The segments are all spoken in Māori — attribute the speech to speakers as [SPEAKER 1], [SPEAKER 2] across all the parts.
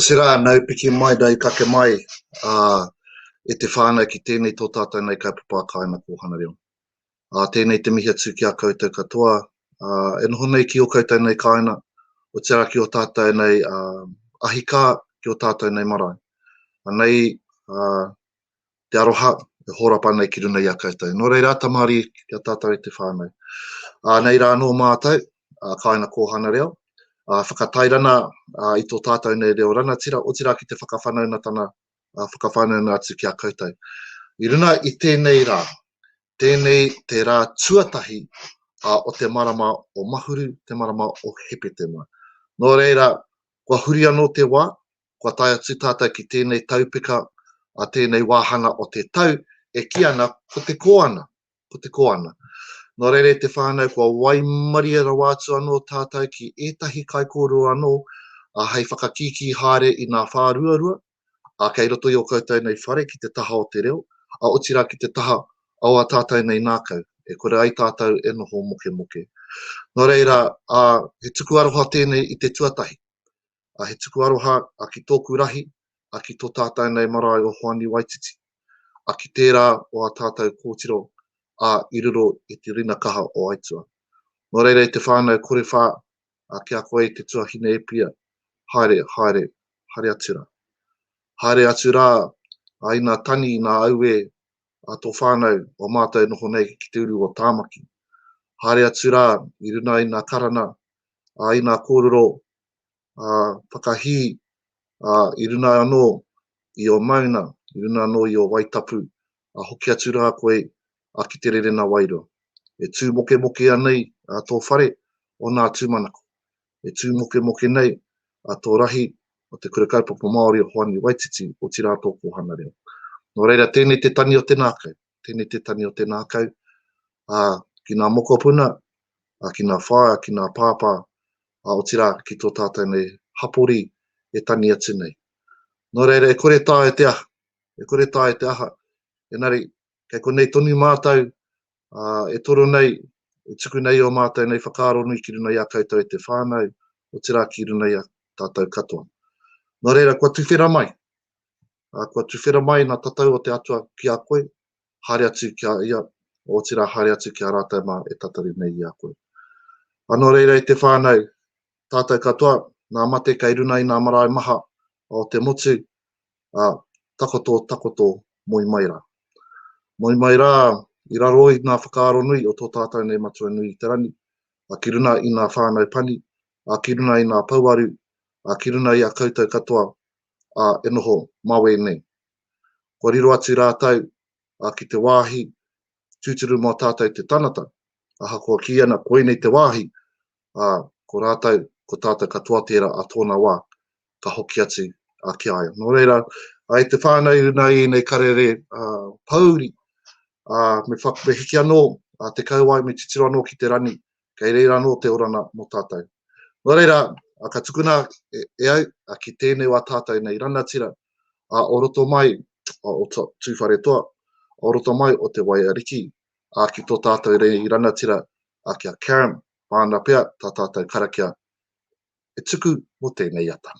[SPEAKER 1] Otirā, nau piki mai, nau take mai e te whānau ki tēnei tō tātou nei kaupapa a Kāinga Kōhanga Reo. Tēnei te mihi atu ki a koutou katoa e noho nei ki ō koutou nei kāinga, otirā ki ō tātou nei ahikā, ki ō tātou nei marae. Anei, te aroha e hōrapa nei ki runga i a koutou. Nō reira, tamari ki a tātou e te whānau. Ā, nei rā anō mātou, ā, kāinga kōhana reo, ā, whakatairana ā, i tō tātou nei reo rangatira, otirā ki te whakawhanaungatana, ā, whakawhanauna atu ki a koutou. I runga i tēnei rā, tēnei te rā tuatahi ā, o te marama o Mahuru, te marama o Hepetema. Nō reira, kua huri anō te wā, kua tae atu tātou ki tēnei taupeka a tēnei wāhanga o te tau e kī ana ko te koana, ko te koana. Nō reira e te whānau kua waimarie rawa atu anō tātou ki ētahi kaikōrero anō ā hei whakakīkī haere i ngā whāruarua ā kei roto i ō koutou nei whare ki te taha o te reo ā otirā ki te taha o ā tātou nei ngākau e kore ai tātou e noho mokemoke. Nō reira, ā, he tuku aroha tēnei i te tuatahi. a he tuku aroha a ki tōku rahi, a ki tō tātau nei marae o Hoani Waititi, a ki tērā o a tātau kōtiro a i riro i te rina kaha o aitua. No reira e te whānau kore whā, a ki a koe i te tuahine Epia, haere, haere, haere atu rā. Haere atu rā, a ina tani, ina auē, a tō whānau, o mātau noho nei ki te uru o Tāmaki. Haere atu rā, i runa ina karana, a ina kōrero, uh, whakahī uh, i runa anō i o mauna, i runa anō i o waitapu, a uh, hoki atu rā koe a uh, ki te rere na wairo. E tū moke moke anei a uh, tō whare o nā tūmanako. E tū moke moke nei a uh, tō rahi o te kura kaupapa Māori o Hoani Waititi o tirā tō kōhana reo. Nō reira, tēnei te tani o te nākau, tēnei te tani o te nākau, a uh, ki nā mokopuna, a uh, ki nā whaea, ki nā pāpā, ā, otirā ki tō tātou nei hapori e tangi atu nei. Nō reira, e kore taea te aha, e kore taea te aha, engari, kei konei tonu mātou, ā, e toro nei, e tuku nei ō mātou nei whakaaro nui ki runga i a koutou e te whānau, otirā ki runga i a tātou katoa. Nō reira, kua tuwhera mai, ā, kua tuwhera mai ngā tatau o te Atua ki a koe, haere atu ki a ia, otirā haere atu ki a rātou mā e tatari nei i a koe. Anō reira e te whānau, tātou katoa, ngā mate kei runga i ngā marae maha o te motu, ā, takoto, takoto, moe mai rā. Moe mai rā i raro i ngā whakaaro nui o tō tātou nei matua nui i te rangi, ā, ki runga i ngā whānau pani, ā, ki runga i ngā pouaru, ā, ki runga i a koutou katoa, ā, e noho mā wēnei. Kua riro atu rātou ki te wāhi tūturu mō tātou te tangata, ahakoa kī ana koinei te wāhi, ā, ko rātou, ko tātou katoa tērā a tōna wā, ka hoki atu ki a ia. Nō reira, i te whānau runa i ēnei karere pōuri, me hiki anō te kauae, me titiro anō ki te rani, kei reira anō te orana mō tātou. Nō reira, ka tukuna e au ki tēnei wā tātou nei ranatira o roto mai o Tūwharetoa, o roto mai o Te Waiariki, ki tō tātou nei ranatira ki a Karen, māna pea tā tātou karakia e tuku mō tēnei ata.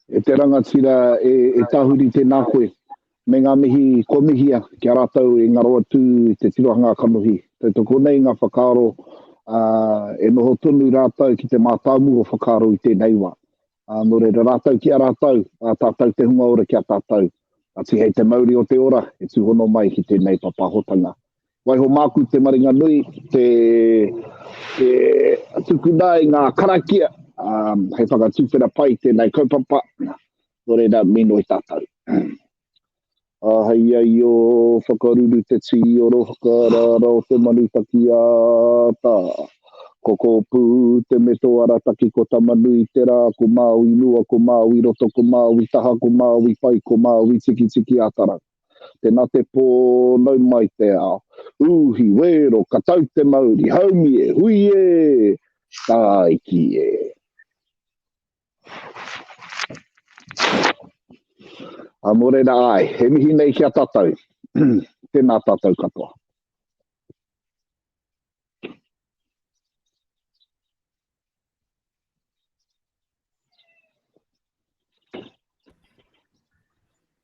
[SPEAKER 1] E te rangatira, e, e Tahuri tēnā koe. Me ngā mihi kua mihia ki a rātou e ngaro atu i te tirohanga kanohi. Tautoko nei ngā whakaaro, ā, e noho tonu rātou ki te mātāmua whakaaro i tēnei wā. Ā, nō reira rātou ki a rātou, ā tātou te hunga ora ki a tātou, ā, tihei te mauri o te ora e tūhono mai ki tēnei papahotanga. Waiho māku te maringa nui, te, te tukuna i ngā karakia, ā, hei whakatuwhera pai tēnei kaupapa, nō reira, mīnoi tātou. Āhei ai ō whakaruru te tī o rohaka rāra o te manu taki ā tā. Ko Kōpū te me tō arataki ko Tamanui te rā ko Māui mua ko Māui roto ko Māui taha ko Māui pai ko Māui tikitiki atarau. Tēnā te pō nau mai te ao. Uhi, wēro, ka tau te mauri, haumi e, hui e! Tāiki e! A mō reira ai, he mihi nei ki a tātou. Tēnā tātou katoa.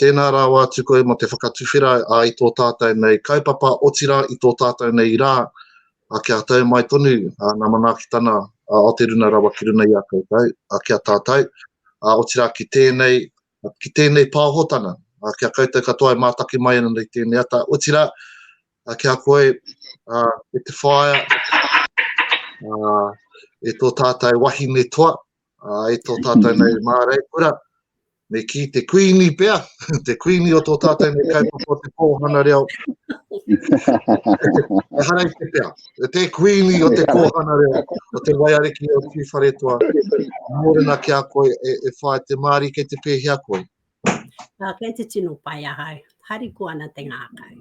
[SPEAKER 1] Tēnā rawa atu koe mō te whakatuwhera i tō tātou nei kaupapa, otirā i tō tātou nei rā, kia tau mai tonu ngā manaakitanga o te runa rawa ki runga i a koutou, ki a tātou, otirā ki tēnei, ki tēnei pāhotanga, ki a koutou katoa e mātaki mai ana i tēnei ata, otirā ki a koe e te whaea e tō tātou wahine toa, Ā, e tō tātou nei māreikura, me kī te kuini pea, te kuini o tō tātou nei kaupapa o te kōhana reo. E hara i te pea, e te kuini o te kōhana reo, o te waiariki o Tū Wharetoa, mōrena ki a koe e, e whae te māri kei te pēhea koe. Ā, kei te tino pai ahau. Hari ko ana te ngākau.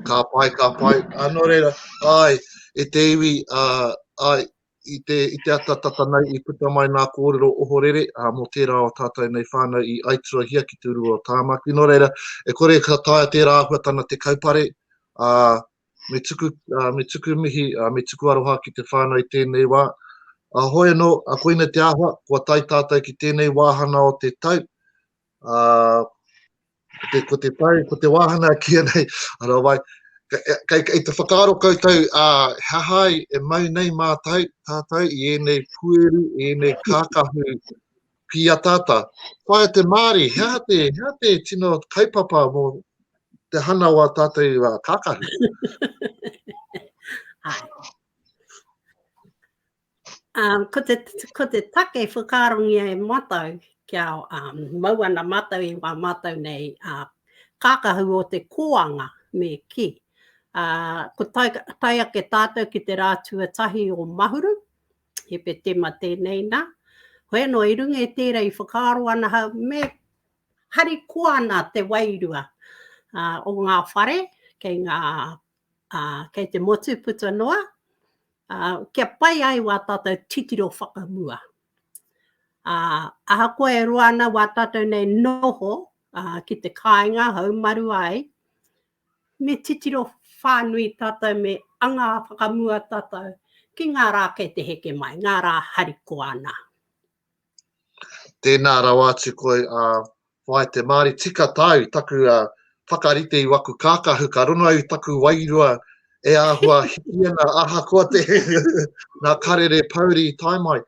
[SPEAKER 1] Ka pai, ka pai. Anō reira, ai, e te iwi, uh, ai, i te, i te ata tata nei i puta mai nā kōrero ohorere ā, mō tērā o tātou nei whānau i aituahia ki te rua o Tāmaki. Nō reira, e kore e ka taea tērā āhuatana te kaupare, ā, me tuku, ā, me tuku mihi, ā, me tuku aroha ki te whānau i tēnei wā. Ā, hoi anō, ā, koina te āhua, kua tae tātou ki tēnei wāhana o te tau, ā, ko te, ko te tau, ko te wāhanga kia nei, ara wai, kei, kei te whakaaro koutou a uh, hahai e mau nei mātou tātou i ēnei pueru, ēnei kākahu pia tata. Whaia te Māori, hea te, hea te tino kaupapa mō te hana o a tātou uh, kākahu? Um, ko, te, ko te take whakaarongia e mātou kia um, mau ana mātou i wā mātou nei uh, kākahu o te kōanga me ki. Uh, ko tai, tai ake tātou ki te rā tuatahi o Mahuru, he pe tema tēnei nā. Hoi anō, i runga e tērā i whakaaro ana ha, me hari koa ana te wairua uh, o ngā whare, kei ngā ā, kei te motu puta noa, ā, kia pai ai wā tātou titiro whakamua. Ā, ahakoa e roa ana wā tātou nei noho, ā, ki te kāinga haumaru ai, me titiro whānui tātou, me anga whakamua tātou ki ngā rā kei te heke mai, ngā rā harikoa ana. Tēnā rawa atu koe a whāi te Māori tika tāu taku whakarite i waku kākahu ka rongo au i taku wairua e āhua hiki ana ahakoa te ngā karere pouri i tae mai.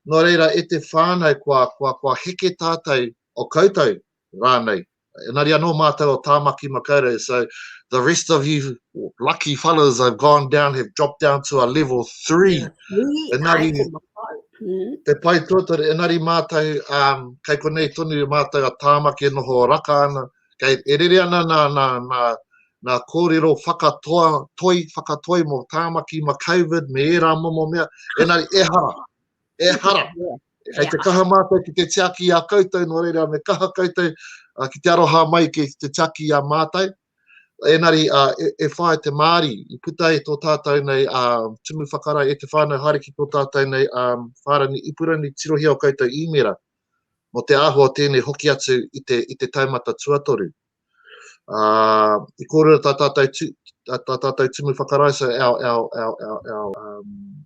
[SPEAKER 1] Nō reira e te whānau kua, kua, kua heke tātou o koutou rānei. Engari anō mātou o Tāmaki Makaurau, so the rest of you lucky fellas have gone down, have dropped down to a level three. Engari, te pai tuatore, engari mātou, um, kei konei tonu mātou a Tāmaki e noho raka ana, kei e rere ana nā, nā, nā, nā kōrero whakatoa, toi, whakatoi mō Tāmaki ma COVID me ērā momo mea, engari ehara, Ehara. Kei te kaha mātou ki te tiaki i a koutou, nō reira me kaha koutou ki te aroha mai ki te tiaki i a mātou. Enari, e, e whae te Māri, i puta e tō tātou nei a tumu whakarai e te whānau haere ki tō tātou nei a whārani ipurani tirohia o koutou īmera mo te āhua o tēnei hoki atu i te, i te taumata tuatoru. Uh, I kōrero tā tātou, tu, tā, tā tātou tumu whakarai, so our, our, our, our, our um,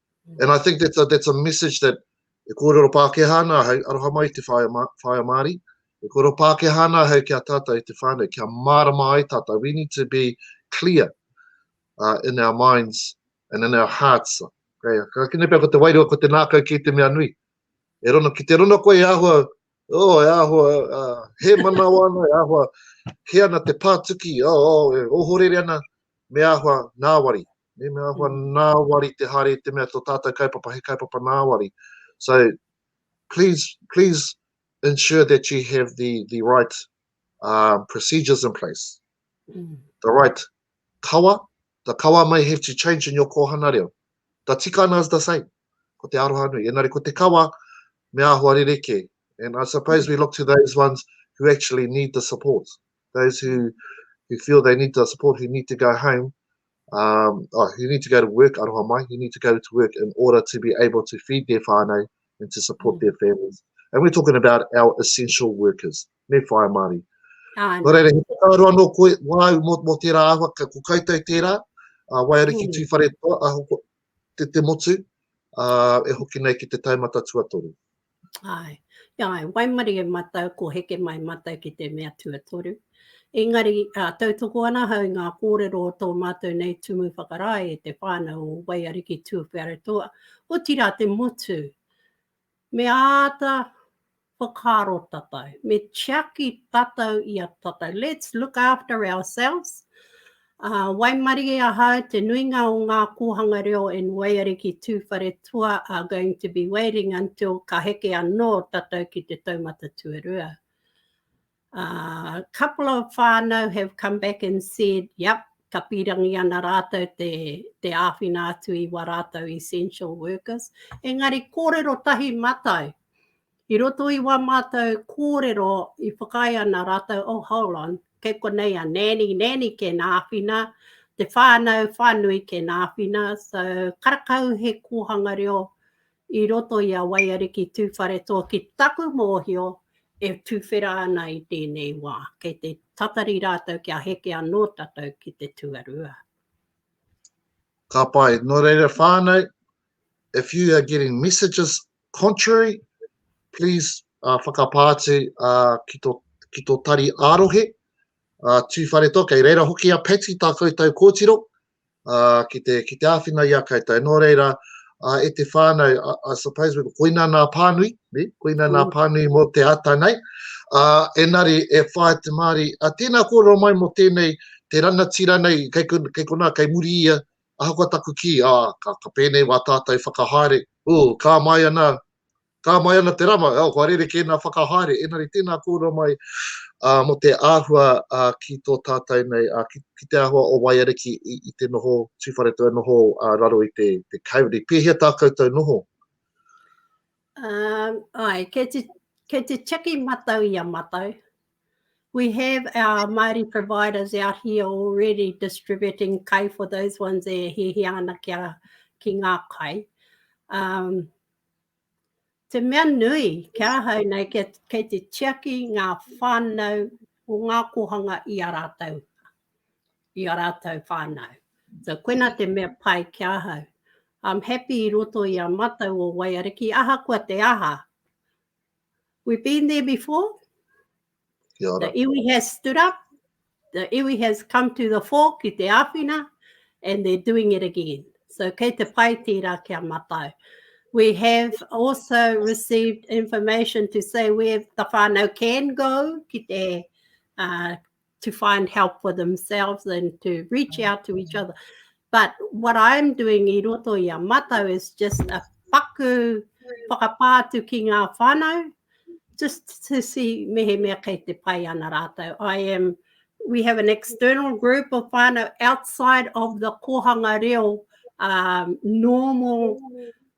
[SPEAKER 1] And I think that's a, that's a message that e kōrero Pākehā nā hei, aroha mai te whaia, whaia Māori, e kōrero Pākehā nā hei ki a tātou i te whānau, kia mārama ai tātou. We need to be clear uh, in our minds and in our hearts. Okay, ka kine pia ko te wairua, ko te nākau ki te mea nui. E rono, ki te rono koe e ahua, oh, e ahua, uh, he manawa ana, e ahua, he ana te pātuki, oh, oh, e ohorere ana, me ahua, nāwari, Me me ahua nāwari te haere i te mea to tātou kaupapa he kaupapa nāwari. So, please, please ensure that you have the, the right uh, procedures in place. Mm. The right kawa, the kawa may have to change in your kohana reo. The tikana is the same. Ko te aroha nui. Enari, ko te kawa, me ahua rereke. And I suppose we look to those ones who actually need the support. those who, who feel they need the support, who need to go home, um, oh, who need to go to work, aroha mai, who need to go to work in order to be able to feed their whānau and to support mm. their families. And we're talking about our essential workers, me whae Māori. Ah, no. Reira, he whakaaro anō koe, wāu mō, mō tērā ahua, ka, ko koutou tērā, uh, wai ariki mm. tūwhare, uh, te te motu, ā, e hoki nei ki te taumata tuatoru. Āe, āe, waimarie mātou ko heke mai mātou ki te mea tuatoru. Engari, ā, tautoko ana ahau i ngā kōrero o tō mātou nei tumu whakarae e te whānau o Waiariki Tuwharetoa, otirā te motu, Me āta whakaaro tatau, me tiaki tatau i a tatau. Let's look after ourselves. Uh, waimarie ahau te nuinga o ngā kōhanga reo in Waiariki Tūwharetua are going to be waiting until ka heke anō tatau ki te taumata tuarua. A couple of whanau have come back and said, yep, ka pirangi ana rātou te, te āwhina atu i wa rātou essential workers. Engari kōrero tahi matai, i roto i wa mātou kōrero i whakai ana rātou, oh hold on, kei konei a nanny, nanny ke nā āwhina, te whānau, whānui ke nā āwhina, so karakau he kōhanga reo I roto i a Waiariki Tūwharetoa ki taku mōhio e tuwhera ana i tēnei wā, kei te tatari rātou kia heke anō tātou ki te tuarua. Ka pai, nō reira whānau, if you are getting messages contrary, please uh, whakapā atu uh, ki, to, ki to tari ārohe, uh, tūwharetoa, kei reira hoki a Patty tā koutou kōtiro, ki te, ki te āwhina i a koutou. Nō reira, e te whānau, I suppose, koina nā pānui, ne? Koina nā pānui mō te ata nei. Engari, e whāia te Māori, tēnā kōrero mai mō tēnei, te rangatira nei, kei konā, kei muri ia, ahakoa taku kī, ka pēnei wā tātou whakahaere, ū, ka mai ana, Ka mai ana te rama, oh, kua rerekē nā whakahaere, engari tēnā kōrua mai mō te āhua ki tō tātou nei, ki te āhua o Waiariki i te noho Tūwharetoa, e noho raro i te Kāwiri. Pēhea tā koutou noho? Um, ai, kei te, kei te tiaki matau i a matau. We have our Māori providers out here already distributing kai for those ones e hihia ana kia, ki ngā kai. Um, Te mea nui, ki ahau nei, kei te tiaki ngā whānau o ngā kōhanga i a rātou, i a rātou whānau. So, koina te mea pai ki ahau. I'm happy i roto i a matau o Waiariki, ahakoa te aha, We've been there before. Kia ora. The iwi has stood up. The iwi has come to the fore ki te āwhina and they're doing it again. So kei te pai tērā kia matau. We have also received information to say where the whānau can go ki te uh, to find help for themselves and to reach mm. out to each other. But what I'm doing i roto i a matau is just a paku whakapātu ki ngā whānau, just to see mehemea kei te pai ana rātou. I am, we have an external group of whānau outside of the kohanga reo um, normal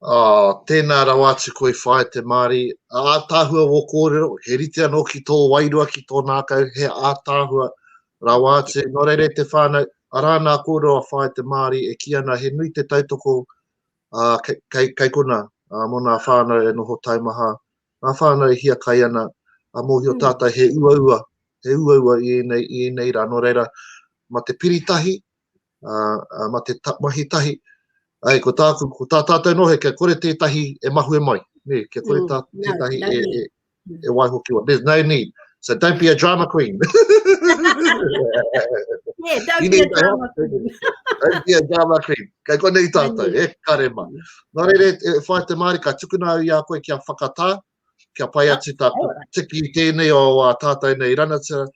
[SPEAKER 1] Oh, tēnā rawa atu koe whae te Māori. Ātaahua wō kōrero, he rite anō ki tō wairua, ki tō nākau, he ātaahua rawa atu. Nō reira e te whānau, arā nā kōrero a whae te Māori e kī ana he nui te tautoko uh, kei, kei, kei kona uh, mō nā whānau e noho taimaha, nā whānau e hiakai ana, a mōhio mm. tātai he uaua, he uaua i ēnei, i ēnei rā. Nō reira, ma te piritahi, uh, ma te ta, mahi tahi, ai, ko tāku, ko tā tātou nohe, kia kore tētahi e mahue mai, ne, kia kore mm, tā, mm, tētahi no, no e, e, e, e waiho ki wa, there's no need, so don't be a drama queen. yeah, don't be a drama queen. don't be a drama queen. Kei konei tātou, e kare ma. Nā rere, e whai te māri, ka tukuna au i a koe kia whakatā, kia pai atu tā tiki tēnei o a tātou nei ranatira,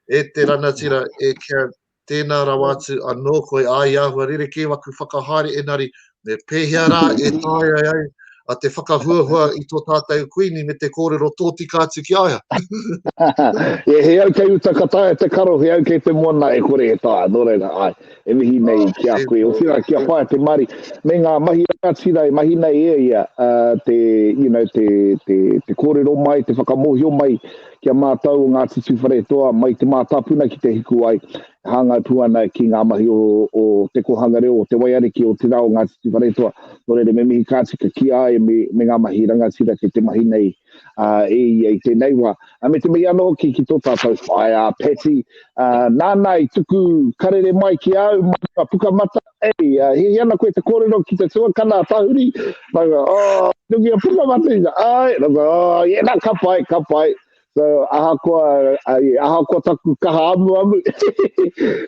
[SPEAKER 1] e te ranatira, e kia Tēnā rawa atu anō koe ā i āhua rerekē waku whakahaere enari me pēhea rā e tāea ai a te whakahuahua i tō tātou Kuini me te kōrero tōtika atu ki a ia. yeah, he au kei uta ka taea te karo, he au kei te moana e kore e taea, nō reira, ai, e mihi nei oh, ki a koe, o tira ki a whae te mari, me ngā mahi rātira e mahi nei e ia, uh, te, you know, te, te, te kōrero mai, te whakamohio mai, ki a mātou o Ngāti Tūwharetoa mai te mātāpuna ki Te Hikuwai e hāngai pū ana ki ngā mahi o, o te kōhanga reo, o te waiariki, o te rā o Ngāti Tūwharetoa. Nō reira me mihi kāti ka kī ai me, me ngā mahi rangatira kei te mahi nei uh, e ia i tēnei wā. Uh, me te mihi anō hoki ki tō tātou whaea Patty, uh, nāna i tuku karere mai ki au, mai ka pukamata, Hei, uh, he ana koe te kōrero ki te tuakana a Tahuri. Ranga, oh, nungi a puka matu ina. Ai, ranga, oh, yeah, na, ka pai, ka pai. So, aha koa, ai, aha koa taku kaha amu amu.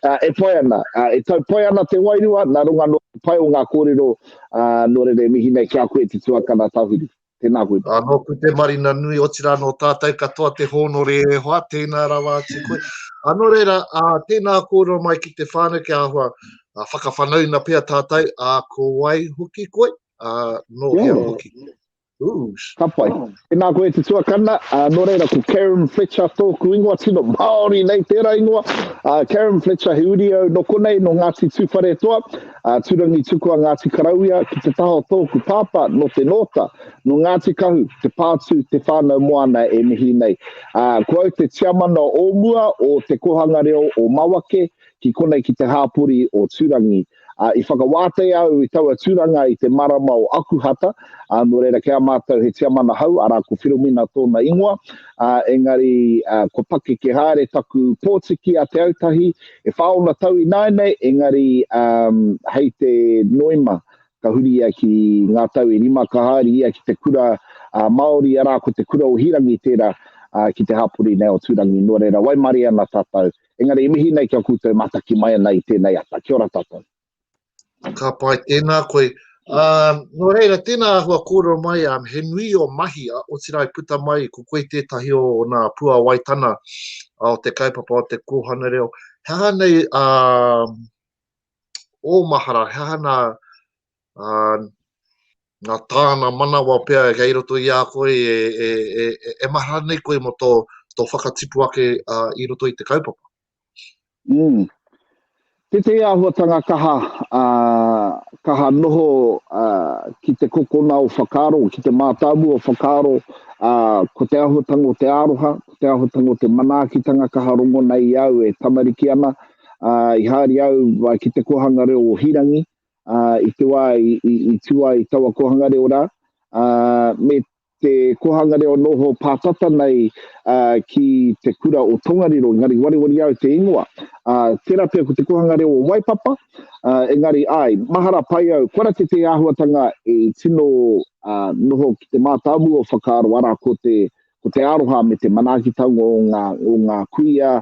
[SPEAKER 1] uh, e pai ana, uh, e tau pai ana te wairua, na runga no pai o ngā kōrero, uh, no rere mihi nei ki a koe te tuakana Tahuri. Tēnā koe. Ā, nōku te marina nui, otirā nō tātou katoa te hōnore e hoa, tēnā rawa atu koe. Ā, nō reira, ā, tēnā kōrero mai ki te whānau kia āhua ā, whakawhanauna pea tātou, ā, ko wai hoki koe, ā, nō hea Tēnā. hoki. Oosh. Ka pai. Oh. Tēnā koe te tuakana, ā, nō reira ko Karen Fletcher tōku ingoa, tino Māori nei tērā ingoa. Ā, Karen Fletcher, he uri au nō konei, nō Ngāti Tūwharetoa. A Turangi Tukua Ngāti Karawia ki te taha o tōku pāpā nō Te Nōta, nō Ngāti Kahu, Te Pātū, Te Whānau Moana e mihi nei. A, ko au te tiamana o mua o Te Kōhanga Reo o Mawake ki konei ki te hāpori o Turangi. A, i whakawātea au i taua tūranga i te marama o Akuhata, a, nō reira kē a mātou he tiamana hou, arā ko Whiromina tōna ingoa, a, engari a, kua pakeke haere taku pōtiki a Te Autahi E whā ōna tau ināianei, engari hei te Noema ka huri ia ki ngā tau e rima ka haere ia ki te kura Māori, arā, ko te kura o Hīrangi tērā ki te hapori nei o Tūrangi. Nō reira, waimarie ana tātou, engari e mihi nei ki a koutou mātaki mai ana i tēnei ata. Kia ora tātou. Ka pai tēnā koe. Um, nō reira, tēnā ahua kōrero mai, um, he nui o mahi, a otira i puta mai, ko koe tētahi o, o nā puawaitana o te kaupapa o te kōhana reo. He aha nei a um, o mahara, he aha nā, uh, nā tāna manawa pea e kei roto i a koe, e, e, e, e, e mahara nei koe mo tō, tō whakatipu ake uh, i roto i te kaupapa? Mm. Tētehi āhuatanga kaha, ā, kaha noho ā, ki te kokona o whakaaro, ki te mātāmua o whakaaro, ā, ko te āhuatanga o te aroha, ko te āhuatanga o te manaakitanga kaha rongo nei i au e tamariki ana, ā, i haere au ā, ki te kōhanga reo o Hīrangi, ā, i te wā i, i, i tū ai taua kōhanga reo rā, ā, me te Kōhanga Reo Noho pātata nei ki te kura o Tongariro, engari wareware au te ingoa. Tērā pea ko te Kōhanga Reo o Waipapa, engari āe, mahara pai au, kua rate te āhuatanga i tino noho ki te mātāmua o whakaaro, arā, ko te ko te aroha me te manaakitanga o ngā, o ngā kuia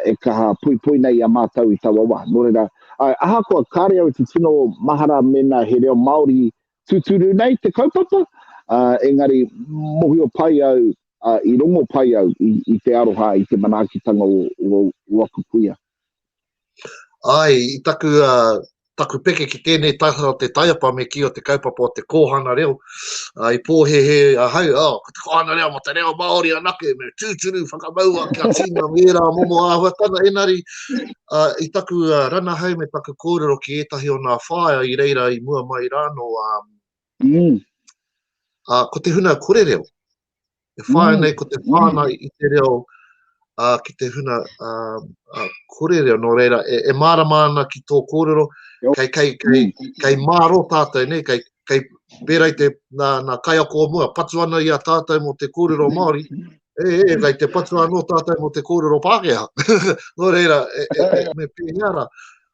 [SPEAKER 1] e kaha poipoi nei i a mātou i taua wā. Nō reira, āe, ahakoa kāre au i te tino mahara mēnā he reo Māori tūturu nei te kaupapa, ā, engari mōhio pai au, ā, i rongo pai au i, i te aroha, i te manaakitanga o, o, o aku kuia. Āe, i taku, ā, taku peke ki tēnei taha o te taiapa me kī o te kaupapa o te kōhanga reo, ā, i pōhēhē ahau, oh, ko te kohanga reo mo te reo Māori anake, me tūturu whakamaua kia tīna ngērā momo āhuatanga enari uh, i taku uh, rana hei me taku kōrero ki ētahi o nā whāia i reira i mua mai rāno. Um, mm. uh, ko te huna kore reo, e whāia mm. nei ko te whāna mm. i te reo uh, ki te huna uh, uh, kore reo, nō reira, e, e mārama ana ki tō kōrero, kei, kei, kei, mm. kei māro tātou, nei, kei, kei pērei te, nā, nā kaiako o mua, patu ana i a tātou mō te kōrero Māori, e, e, kei te patu anō tātou mō te kōrero Pākehā. nō reira, e, e, e, me pēhea rā.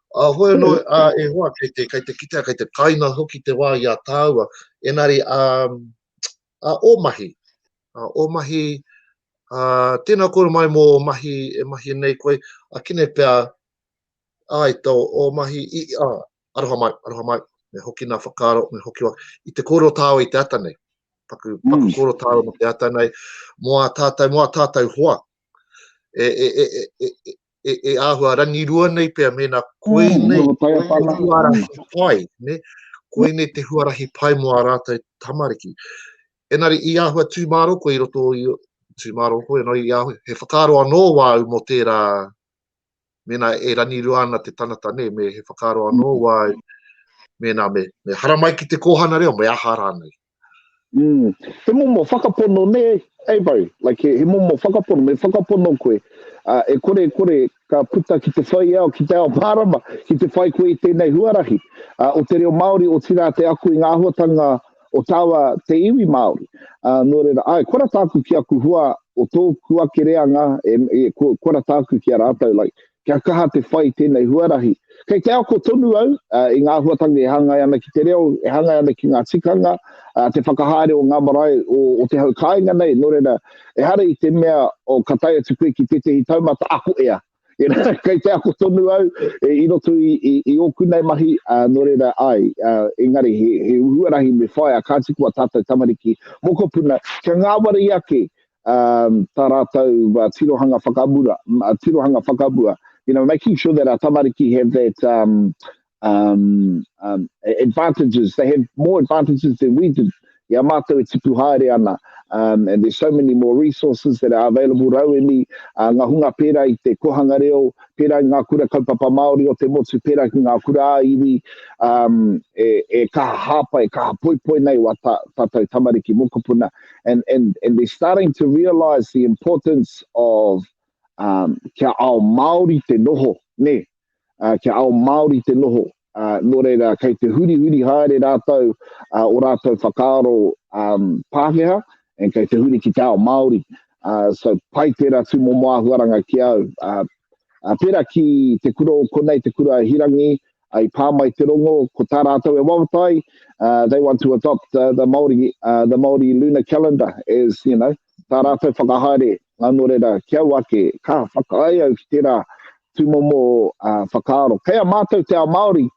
[SPEAKER 1] A uh, hoi anō, uh, e hoa, kei te, kei te kitea, kei te kaina hoki te wā i a tāua. Enari, um, A o mahi. A o mahi, a tena kore mai mo o mahi e mahi nei koe, a kine pea ai to o mahi i a aroha mai, aroha mai, me hoki na whakaro, me hoki wa, i te koro tao i te ata nei. Paku, paku mm. koro tao mo te ata nei, mo a tatou, mo a tatou hoa. E, e, e, e, e, e, e āhua rangirua nei pea mēnā koe mm, nei te huarahi pai, ne? koe nei te huarahi pai mo a rātou tamariki. Enari, i āhua tūmāro koe i roto i tūmāro koe, no, i āhua, he whakaro anō wāu mo tērā, mēnā e rangirua ana te tangata nei, me he whakaro anō mm. wāu, mēnā me, me haramai ki te kōhana reo, me aha rānei. Mm. He momo whakapono nē, Avo? Like he, he momo whakapono, me whakapono koe, uh, e kore e kore ka puta ki te whaiao, ki te ao mārama, ki te whai koe i tēnei huarahi uh, o te reo Māori, o tirā te aku i ngā āhuatanga o tāua te iwi Māori. Uh, nō reira, ai, kora tāku ki aku hua o tōku ake reanga, e, e, kora tāku ki a rātou, like, Kia kaha te whai tēnei huarahi. Kei te ako tonu au i ngā āhuatanga e hāngai ana ki te reo, e hāngai ana ki ngā tikanga, te whakahaere o ngā marae o te hau kāinga nei, nō reira, ehara i te mea ka tae atu koe ki tētehi taumata ako ea. Kei te ako tonu au i roto i ōku nei mahi, nō reira, āe, engari he huarahi me whāia, kāti koa tātou tamariki mokopuna kia ngāwari ake um, tā rātou uh, tirohanga whakamura, uh, tirohanga whakamua. You know, making sure that our tamariki have that um, um, um, advantages, they have more advantages than we did. Ia mātou e tipu haere ana. Um, and there's so many more resources that are available rauemi, uh, ngā hunga pērā i te kohanga reo, pērā i ngā kura kaupapa Māori o te motu, pērā ki ngā kura āiwi, um, e, e kaha hāpai, e kaha poipoi nei wā tā, tātou tamariki mokopuna. and, and, and they're starting to realise the importance of um, kia ao Māori te noho, ne, uh, kia ao Māori te noho. Uh, nō reira, kei te huri huri haere rātou uh, o rātou whakaaro um, Pākehā, and kei te huri ki te ao Māori. Uh, so, pai tērā tū mō māhuaranga ki au. Uh, uh, pera ki te kura o konei, te kura hirangi, I pā mai te rongo, ko tā rātou e wawata ai, uh, they want to adopt uh, the Māori, uh, the Māori lunar calendar as, you know, tā rātou whakahaere, ngā nō reira, ki au ake, ka whakae au ki tērā tūmomo uh, whakaaro. Kei a mātou te ao Māori,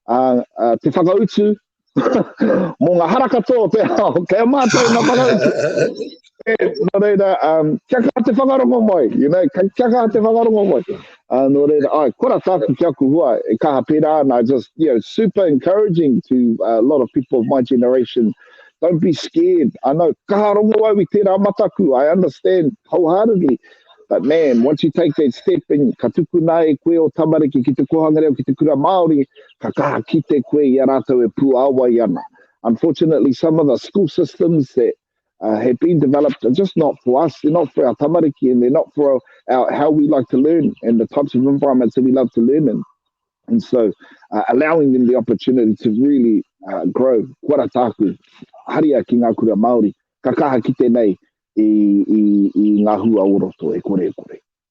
[SPEAKER 1] uh, uh, te whakautu, Mō ngā hara katoa o te ao, kei a mātou ngā whakautu. E, nō reira, um, kia kā te whakarongo mai, you know, kia, kia kā te whakarongo mai. Uh, nō reira, ai, kora tāku ki aku hua, e kaha pērā ana, just, you know, super encouraging to uh, a lot of people of my generation, don't be scared, I know, kaha rongo au i tērā mataku, I understand wholeheartedly, But man, once you take that step and ka tukuna e koe o tamariki ki te kohanga reo, ki te kura Māori, ka kaha kite koe i a rātou e puāwai ana. Unfortunately, some of the school systems that uh, have been developed are just not for us. They're not for our tamariki and they're not for our, how we like to learn and the types of environments that we love to learn in. And so uh, allowing them the opportunity to really uh, grow. Kua ra tāku, haria ki ngā kura Māori, ka kaha ki tēnei i, i, i ngā hua o roto e kore e kore.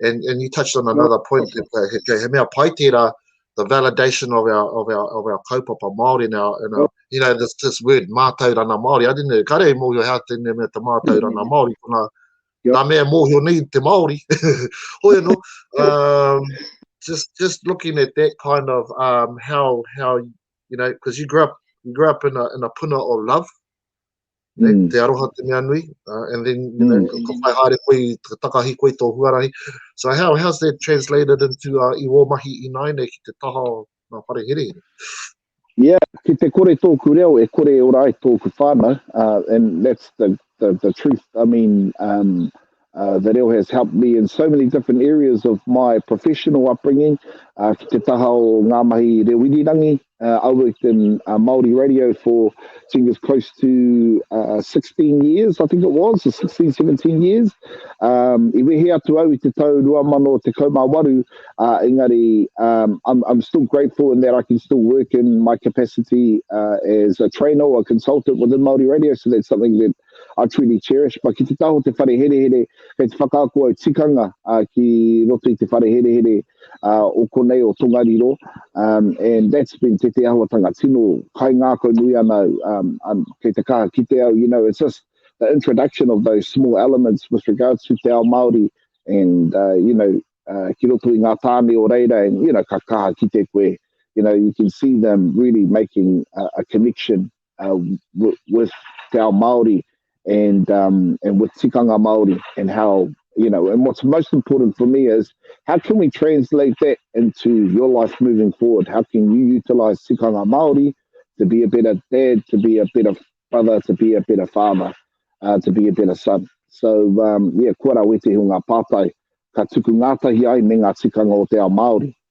[SPEAKER 1] and, and you touched on another point, he, he, he mea pai tērā, the validation of our, of our, of our kaupapa Māori and our, and our, you know, this, this word, mātaurana Māori, I didn't know, kare e mōhio hea tēnei mea te mātaurana mm. Māori, kuna, yep. nā mea mōhio nei te Māori, hoi anō, um, just, just looking at that kind of, um, how, how, you know, because you grew up, you grew up in a, in a puna of love, Nei, mm. te aroha te mea nui, uh, and then, you know, mm. ka whai haere koe, ka takahi koe tō huarahi. So how, how's that translated into uh, i wō mahi i nāine ki te taha o ngā whare here? Yeah, ki te kore tōku reo, e kore e ora ai tōku whānau, uh, and that's the, the, the truth. I mean, um, Uh, the reo has helped me in so many different areas of my professional upbringing. Uh, ki te taha o ngā mahi reo irirangi, uh, I worked in uh, Māori radio for, I think it's close to uh, 16 years, I think it was, 16, 17 years. Um, I wehe atu au i te tau 2018, uh, engari, um, I'm, I'm still grateful in that I can still work in my capacity uh, as a trainer or a consultant within Māori radio, so that's something that a Tweedy Cherispa ki te taha o te whare herehere, kei te whakaako au tikanga uh, ki roto i te whare herehere uh, o konei o Tongariro, um, and that's been te te ahuatanga tino kai ngākau nui ana au, um, um, kei te kaha ki te au, you know, it's just the introduction of those small elements with regards to te ao Māori, and, uh, you know, uh, ki roto i ngā tāne o reira, and, you know, ka kaha ki te koe, you know, you can see them really making a, a connection uh, with, with Te Ao Māori and, um, and with tikanga Māori and how, you know, and what's most important for me is how can we translate that into your life moving forward? How can you utilise tikanga Māori to be a better dad, to be a better brother, to be a better father, uh, to be a better son? So, um, yeah, kua rā wetehi o ngā pātai ka tuku ngātahi ai me ngā tikanga o te ao Māori.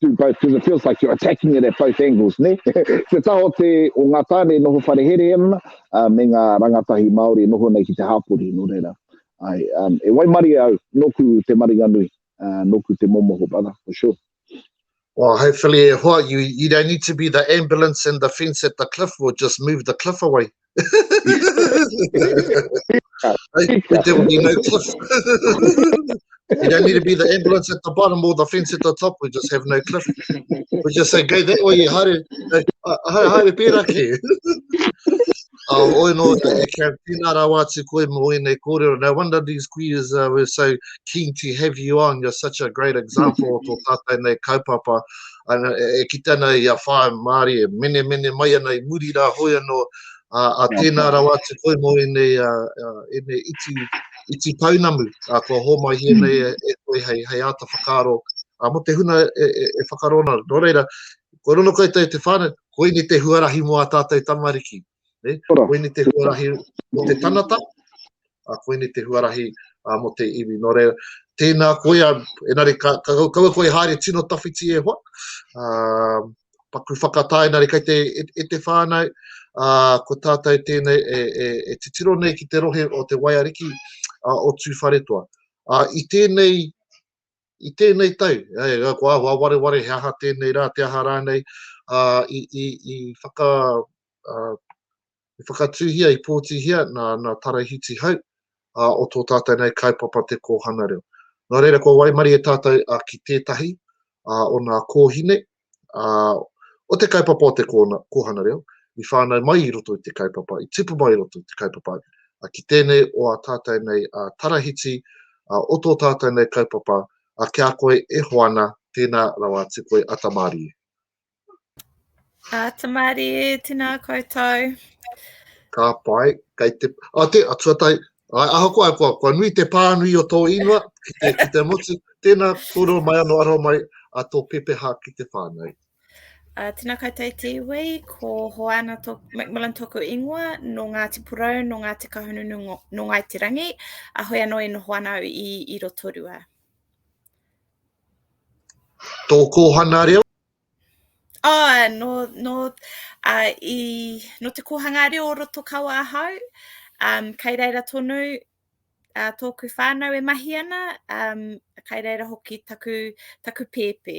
[SPEAKER 1] do both because it feels like you're attacking it at both angles ne te taha o te o ngā tāne e noho whare herehere ana uh, me ngā rangatahi Māori e noho nei ki te hāpori no reira ai um, e waimari au noku te maringanui uh, noku te momoho brother for sure Well, hopefully e hoa, you, you don't need to be the ambulance and the fence at the cliff, we'll just move the cliff away. you don't need to be the ambulance at the bottom or the fence at the top, we just have no cliff. We just say, go that way, haere, haere, haere pērā ki. Uh, oh, oi no, tēnā rāwā atu koe mō ēnei kōrero. No wonder these queers uh, were so keen to have you on. You're such a great example o tō tātou nei kaupapa. ana, e kite ana i a whaea Māori e menemene mai ana i muri rā, hoi anō, a tēnā rawa atu koe mō ēnei, ēnei iti, iti pounamu kua hōmaihia nei e koe hei, hei āta whakaaro mō te huna e, e, e whakaaro ana. Nō reira, kua rongo koutou i te whānau, koinei te huarahi mō ā tātou tamariki. E, koini te huarahi mo te tanata, a koini te huarahi a mo te iwi. No re, tēnā koia, enari ka, ka, ka, ka koe haere tino tawhiti e hoa, a, paku whakatā, enari kai te, e, e te whānau, a, ko tātou tēnei e, e, e titiro nei ki te rohe o te waiariki a, o Tūwharetoa. A, i tēnei i tēnei tau, kua āhua wareware he aha tēnei rā, te aha rānei, ā, i, i, i whaka, ā, i whakatūhia, i pōtihia nā, nā Tarahiti Hau, ā, o tō tātou nei kaupapa Te Kōhanga Reo. Nō reira, kua waimarie tātou ā, ki tētahi ā, o nā kōhine, ā, o te kaupapa o te kōhanga reo, i whānau mai i roto i te kaupapa, i tipu mai i roto i te kaupapa, ā, ki tēnei o ā tātou nei ā Tarahiti, ā, o tō tātou nei kaupapa, ā, ki a koe e Hoana, tēnā rawa atu koe a Tamarie. Ā Tamarie, tēnā koutou. Ka pai, kei te, ā, tē, ā, tuatahi, Ai, ahakoa, kua, kua nui te pānui o tō inua ki te, ki te motu. Tēnā, kōrero mai anō aroha mai a tō pepeha ki te whānau. Uh, ah, tēnā koutou i te iwi, ko Hoana to, Macmillan tōku ingoa, nō Ngāti Porou, nō Ngāti Kahungunu, nō Ngāi Te Rangi, a hoi anō e noho ana i, i Rotorua. Tō kōhana reo? Oh, no, no, uh, i, no te kōhanga reo o roto kawa ahau, um, kei reira tonu uh, tōku whānau e mahi ana, um, kei reira hoki taku, taku pēpē.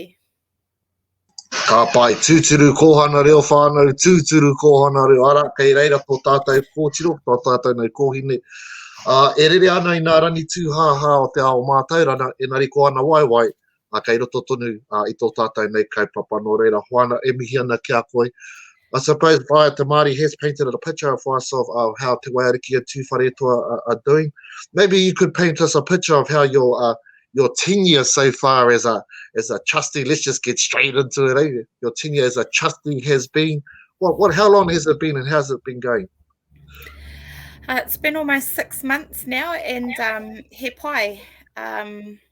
[SPEAKER 1] Ka pai, tūturu kōhana reo whānau, tūturu kōhana reo ara, kei reira tō tātou kōtiro, tō tātou nei kōhine. Uh, e rere ana i nā rangi tūhāhā o te ao mātaurana, e nari ko ana waiwai, a, kei roto tonu a, i tō tātou nei kaupapa. Nō reira, Hoana, e mihi ana ki a koe. I suppose Whaea Te Māori has painted a picture for us of, of how Te Waiariki and Tūwharetoa are, are doing. Maybe you could paint us a picture of how your, uh, your tenure so far as a, as a trustee, let's just get straight into it, eh? your tenure as a trustee has been, what, what, how long has it been and how's it been going? Uh, it's been almost six months now, and um, he pai. Um,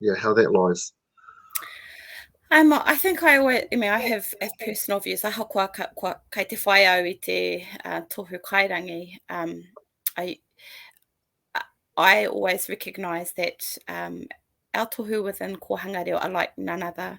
[SPEAKER 1] yeah, how that lies. Um, I think I always, I mean, I have, have personal views. Aha kua, kua kai te whai au i te uh, tohu kairangi. Um, I, I always recognise that um, our tohu within Kohanga Reo are like none other.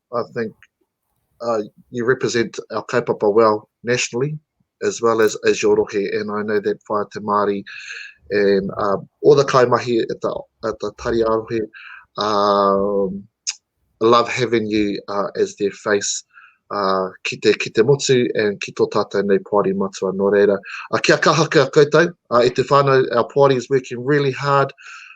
[SPEAKER 1] I think uh, you represent our kaupapa well nationally as well as as your rohe, and I know that Whaia Te Māori and uh, all the kaimahi at the, at the Tari Arohe um, love having you uh, as their face uh, ki, te, ki te motu and ki tō tātou nei Poari matua. Nō reira, a kia kaha kia koutou, uh, e te whānau, our Poari is working really hard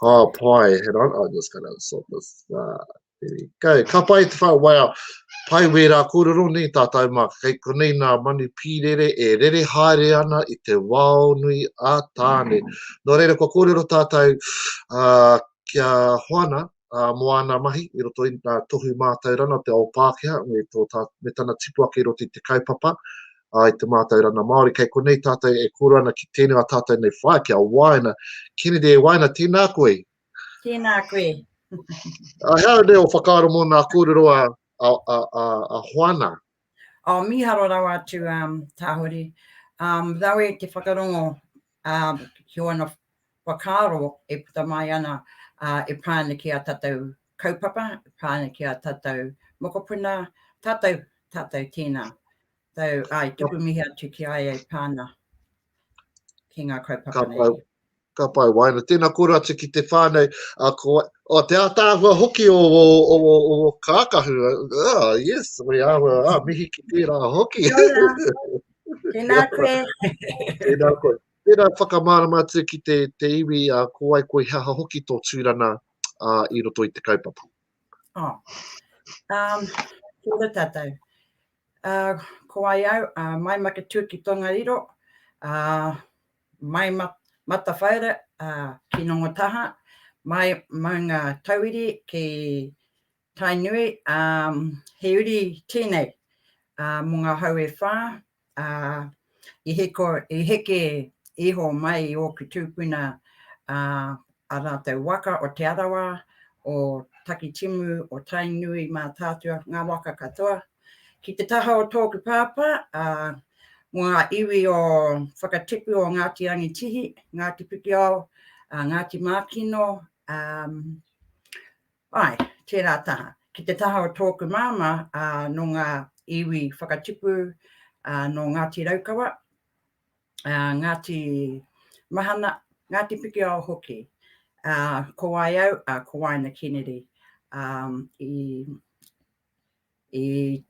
[SPEAKER 1] Ka pai, he rana, I'm just going to sort this, uh, there we go. Ka pai te whai, wow, pai wērā kōrero nei tātou mā, kei konei nā manu pīrere e rere haere ana i te wao nui a Tāne. Nō reira, kua kōrero tātou uh, kia Hoana, uh, mō āna mahi i roto i tā tohu mātaurana o te ao Pākehā me, tō, tā, me tana tipu ake i roto i te kaupapa uh, i te mātaurana Māori. Kei konei tātou e kōru ana ki tēnei a tātou nei whae, ki a Waina. Kennedy e Waina, tēnā koe. Tēnā koe. uh, hea nei o whakaaro mō nā kōrero a, a, a, a, a Hoana. Oh, miharo rawa atu um, tahuri. Um, rawe te whakarongo um, ki wana whakaro e puta mai ana uh, e pāna ki a tatau kaupapa, e pāna ki a tatau mokopuna, tatau, tatau tēnā. Tau, ai, tuku mihi atu ki ai e pāna. ki ngā kaupapa nei. Ka pai waina. Tēnā kōrua atu ki te whānau. A, ko, o, te ātāhua hoki o, o, o, o, o kākahu. Ah, yes, we are. Ah, mihi ki tērā hoki. Tēnā koe. Tēnā koe. Tēnā whakamārama atu ki te, te iwi a uh, ko ai koe haha hoki tō tūrana uh, i roto i te kaupapa. Oh. Um, kia ora tātou. Ko wai au, mai Maketū ki Tongariro, mai Matawhaura ki Nongotahā, mai Maunga Tauiri ki Tainui, he uri tēnei mō ngā hau e whā, i hiko, i heke iho mai i ōku tūpuna ā rātou waka o Te Arawa, o Takitimu, o Tainui, Mātaatua, ngā waka katoa, ki te taha o tōku pāpā, ā, mō ngā iwi o whakatipu o Ngāti Rangitihi, Ngāti Pikiao, ā, Ngāti Mākino, ā, Āe, tērā taha. Ki te taha o tōku māmā, ā, nō ngā iwi whakatipu, ā, nō Ngāti Raukawa, ā, Ngāti Mahana, Ngāti Pikiao hoki. Ā, ko wai au, ā, ko Waina Kennedy, ā, i, I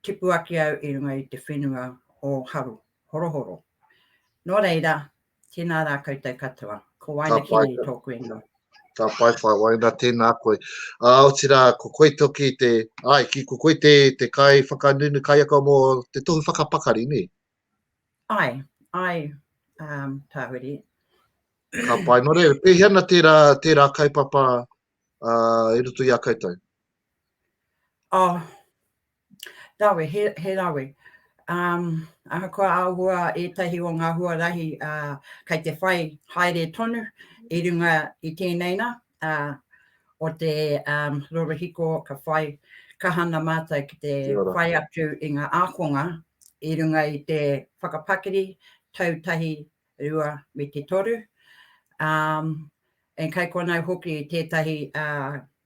[SPEAKER 1] tipu ake au i runga i te whenua o Haru, Horohoro. Nō reira, tēnā rā koutou katoa. Ko Waina Kini tōku ingoa. Ka pai whai waina, tēnā koe. Ā, otirā, ko koe toki te, ai, ki ko koe te, te kai whakanunu kaiako mō te tohu whakapakari, nē? Ai, ai, um, Tāhuri. Ka pai, nō reira, pēhea na tērā, tērā kaupapa i roto i a koutou. Oh, rawe, he, he rawe. Um, ahakoa ahua ētahi o ngā huarahi uh, kei te whai haere tonu i runga i tēnei na, uh, o te um, rorohiko ka whai kahana mātou ki te whai atu i ngā ākonga i runga i te whakapakiri tautahi rua me te toru, ā, and kei konei hoki tētahi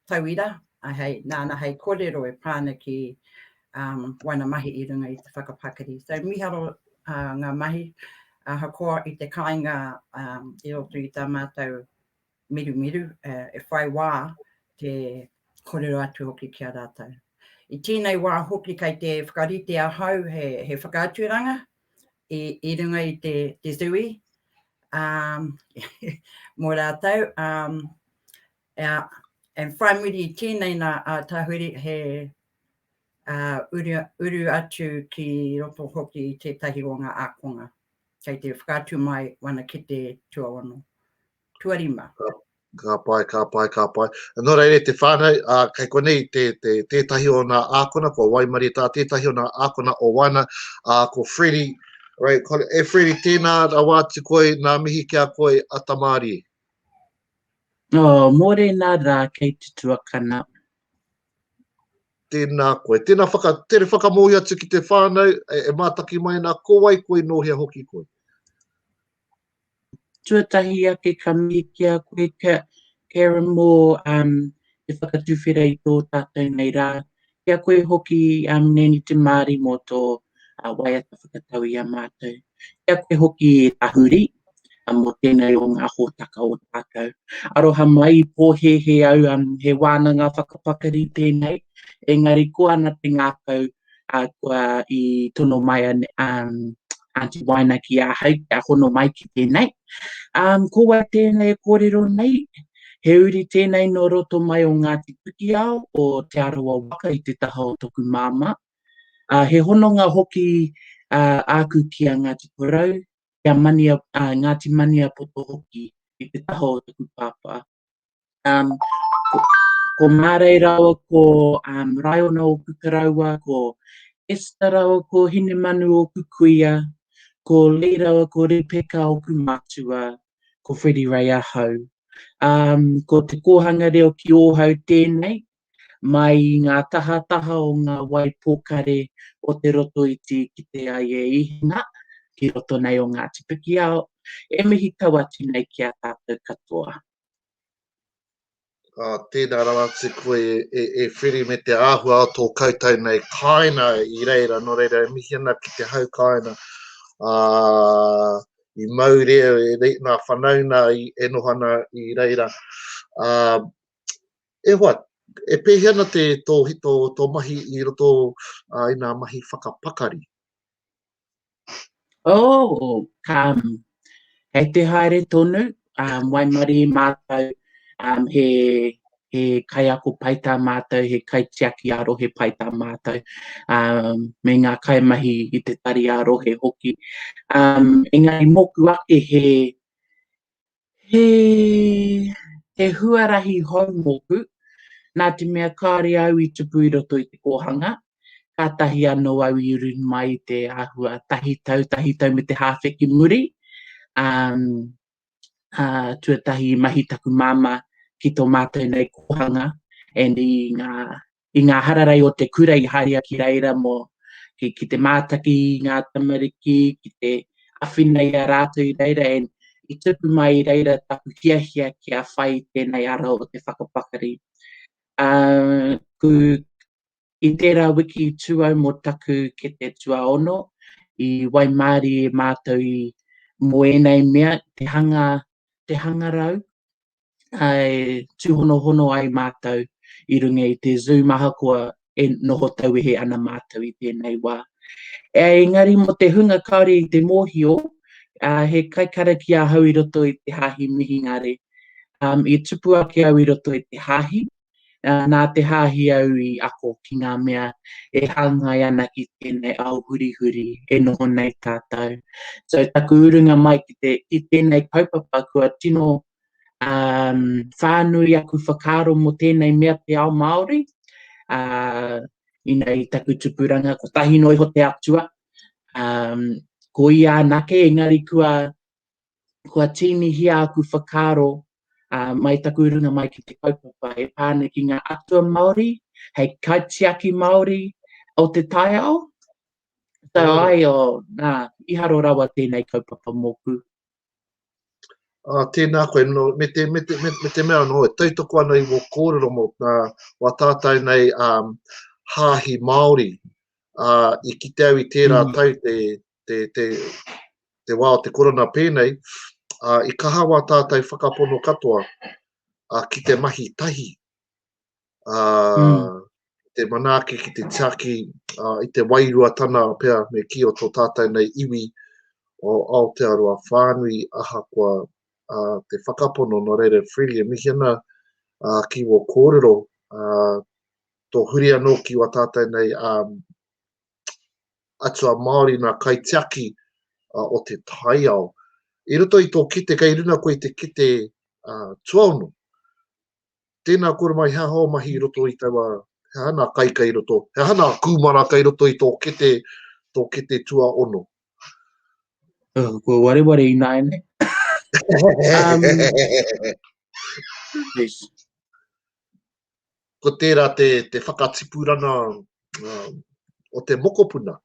[SPEAKER 1] tauira, hei, nāna hei kōrero e pā ana ki waena mahi i runga i te whakapakari. So miharo ngā mahi ahakoa i te kāinga i roto i tā mātou mirumiru, e whai wā te kōrero atu hoki ki a rātou. I tēnei wā hoki kei te whakarite ahau he, he whakaaturanga i, i runga i te, te Zui um, mō rātou. Um, uh, and whai muri i tēnei nā a Tahuri he uh, uru, uru atu ki roto hoki i tētahi o ngā ākonga. Kei te whakaatu mai wana ki te tuaono. tuarima. Ka pai, ka pai, ka pai. Nō reira te whānau, uh, kei konei te, te, tētahi o ngā ākona, ko Waimari tā, tētahi o ngā ākona o Waina, uh, ko Freddy, right, ko, e Freddy, tēnā rawa atu koe, nā mihi ki a koe, a Tamārie. Nō, oh, mōre nā rā, kei te tuakana. Tēnā koe, tēnā whaka, tere whakamōhi atu ki te whānau, e, e mātaki mai nā, ko wai koe, nō hea hoki koe? Tuatahi ake ka mihi ki a koe kia Karen Moore um, te whakatuwhera i tō tātou nei rā, ki a koe hoki um, Nani Te Māri mō tō uh, waiata whakatau i a mātou. Ki a koe hoki Tahuri, a mō tēnei o ngā hōtaka o tātou. Aroha mai i pōhēhē au, um, he wānanga whakapakari tēnei, engari ko ana te ngākau ā, kua i tono mai a Aunty Waina ki ahau kia hono mai ki tēnei. Ā, ko wai tēnei e kōrero nei? He uri tēnei nō roto mai o Ngāti Pikiao, o Te Arawa waka i te taha o toku māmā. Ā, he hononga hoki āku ki a Ngāti Porou, ki a Ngāti Maniapoto hoki i te taha o toku pāpā. Um, ko, ko Mārei Rao, ko um, Raiona o Kukaraua, ko Esther Rao, ko Hinemanu o Kukuia, ko Lee Rao, ko Ripeka o Kumatua, ko Freddie Ray Ahau. Um, ko te kōhanga reo ki Ōhau tēnei, mai i ngā tahataha o ngā wai pōkare o te roto iti ki te ai e ihinga, ki roto nei o Ngāti Pikiao, e mihi tawati nei ki a tātou katoa. Ā, tēnā rawa atu koe e, e Whiri me te āhua o tō koutou nei kāina i reira, nō reira e mihi ana ki te hau kāina. Ā, i mau re, re, nā whanauna i, e noho ana i reira. Ā, e hoa, e pēhi ana te, tō, tō, tō mahi i roto uh, i nā mahi whakapakari? Oh, um, hei te haere tonu, um, waimari mātou, um, he, he kaiako pai tā mātou, he kaitiaki a rohe pai tā mātou, um, me ngā kaimahi i te tari a rohe hoki. Um, engari mōku ake he, He he huarahi hou mōku, nā te mea kāore au i tupu i roto i te kōhanga, kātahi anō au i uru mai i te āhua tahi tau, tahi tau me te hāwhe ki muri, ā, ā, tuatahi i mahi taku māmā ki tō mātou nei kōhanga and i ngā i ngā hararei o te kura i haria ki reira mō ki, ki te mātaki i ngā tamariki, ki te awhina i a rātou i reira, and i tupu mai i reira taku hiahia ki a whai tēnei ara o te whakapakari. Uh, ku, i tērā wiki tuau mō taku ke te tuaono, i waimāri e mātou i mō ēnei mea, te hanga, te hangarau, e tūhonohono ai mātou i runga i te Zoom ahakoa e noho tauwehe ana mātou i tēnei wā. Engari mō te hunga kāore i te mōhio, he kaikarakia ahau i roto i te Hāhi Mihingare. I tupu ake au i roto i te Hāhi, Nā te Hāhi au i ako ki ngā mea e hāngai ana ki tēnei ao hurihuri e noho nei tātou. So taku urunga mai ki te, ki tēnei kaupapa kua tino um, whānui aku whakaaro mō tēnei mea te ao Māori. Uh, ina i taku tupuranga, ko tahi noa iho te atua, um, ko ia anake, engari kua kua tīnihia aku whakaaro mai taku runga mai ki te kaupapa e pā ana ki ngā atua Māori, hei kaitiaki Māori o te taiao. So ai o, nā, i haro rawa tēnei kaupapa mōku. Uh, tēnā koe, no, me, te, me, te, me, me te mea no, e tautoko ana i wō kōrero mō tā, wā tātou nei um, hāhi Māori, uh, i kite au i tērā mm. tau te, te, te, te wā o te korona pēnei, a, i kaha wā tātai whakapono katoa a, ki te mahi tahi, a, mm. te manaaki ki te tiaki a, i te wairua tana pea me ki o tō tātai nei iwi o Aotearoa whānui ahakoa a, te whakapono no reira freely e mihi ana a, ki wō kōrero a, tō huri anō ki wā tātai nei a, atua Māori, nā kaitiaki uh, o te taiao. I roto i tō kite, kei runa koe i te kite uh, tuaono. Tēnā kore mai, he aha o mahi i roto i taua, he aha nā kai kai roto, he aha nā kūmara kai roto i tō kite, tō kite tuaono. Uh, ko wareware i nāene. um, ko tērā te, te whakatipuranga uh, o te mokopuna.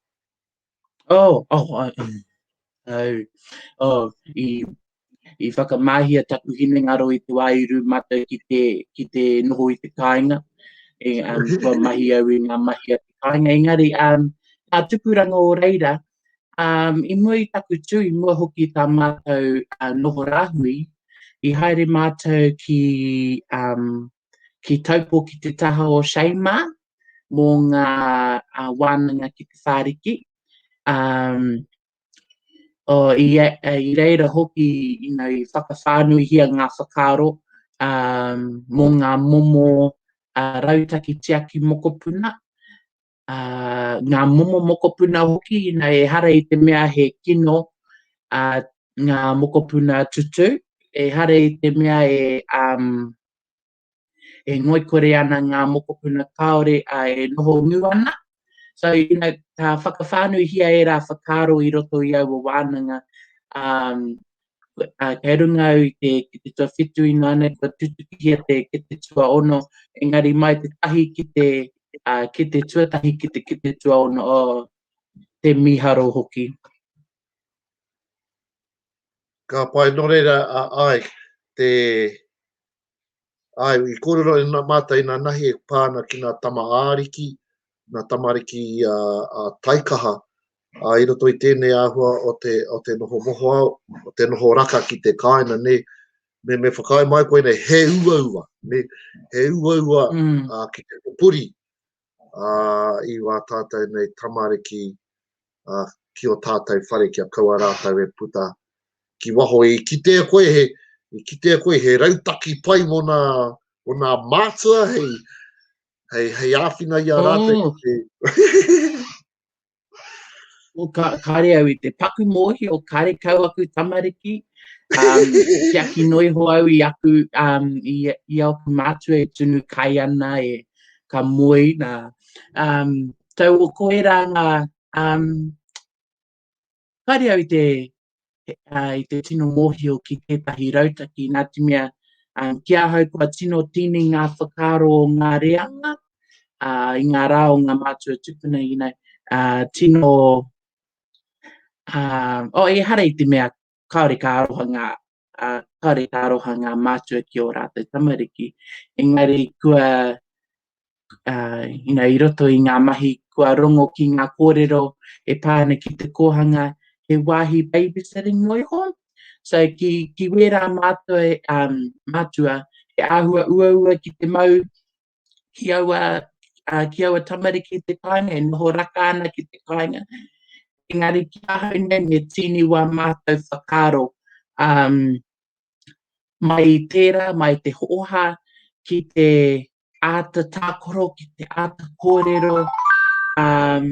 [SPEAKER 1] Oh, oh, oh, oh, oh, i, i whakamahia taku hinengaro i te wāiru mata ki te, ki te noho i te kāinga. E, um, kua mahi au i ngā mahi a te kāinga. Engari, um, tā tupuranga o reira, um, i mua i taku tū, i mua hoki tā mātou uh, noho rāhui, i haere mātou ki um, ki Taupo ki te taha o Shaima mō ngā uh, wānanga ki te whāriki. Um, o, i, i reira hoki you know, i whakawhānuihia ngā whakaaro um, mō ngā momo uh, rautaki tiaki mokopuna ngā momo mokopuna hoki, ina ehara i te mea he kino ngā mokopuna tutu, ehara i te mea e, um, e ngoikore ana ngā mokopuna kāore a e noho ngū ana. So, ina ka whakawhānuihia ērā whakaaro i roto i aua wānanga, um, kei runga au i te, ki te tuawhitu ina nei kua tutukihia te, ki te tuaono, engari mai te tahi ki te, uh, ki te tuatahi ki te, ki te tuaono, oh, te miharo hoki. Ka pai no reira a ai te Āe, i kōrero e nā mātou i nā nahi e pā ana ki nā tama ā-ariki, nā tamariki a, a taikaha, a, i roto i tēnei āhua o te, o te noho mohoao, o te noho raka ki te kāina, ne, me, me whakaae mai koe nei, he uaua, ne, he uaua mm. a, ki te puri, ā, i wā tātou nei tamariki, ā, ki ō tātou whare kia kaua rātou e puta ki waho i kitea koe he, i kitea koe he rautaki pai mō nā, mō nā mātua hei, hei, hei āwhina i a rātou mm. ki te... Well, ka, kāre au i te paku mōhio, kāre kau aku tamariki, um, kia ki noi ho au i aku, um, i, i aku mātua e tunu kai ana e ka moe na. Um, tau o koe rā ngā, um, Kāre au i te, uh, i te tino mōhio ki tētahi rautaki, nā te mea, um, ki ahau kua tino tīni ngā whakaaro o ngā reanga, uh, i ngā rā o ngā mātua tupuna, you know, uh, tino, uh, oh, e hara i te mea, kāore ka aroha ngā ā, kāore he aroha ngā mātua ki ō rātou tamariki. Engari kua, ā, you know, i roto i ngā mahi kua rongo ki ngā kōrero e pā ana ki te kōhanga, he wāhi babysitting noa iho. So ki, ki wērā mātua, ā, mātua, he āhua uaua ki te mau ki aua, uh, ki aua tamariki te kāinga, e noho raka ana ki te kāinga. Engari ki ahau nei, me tīni wā mātou whakaro um, mai tērā, mai te hooha, ki te āta tākoro, ki te āta kōrero, um,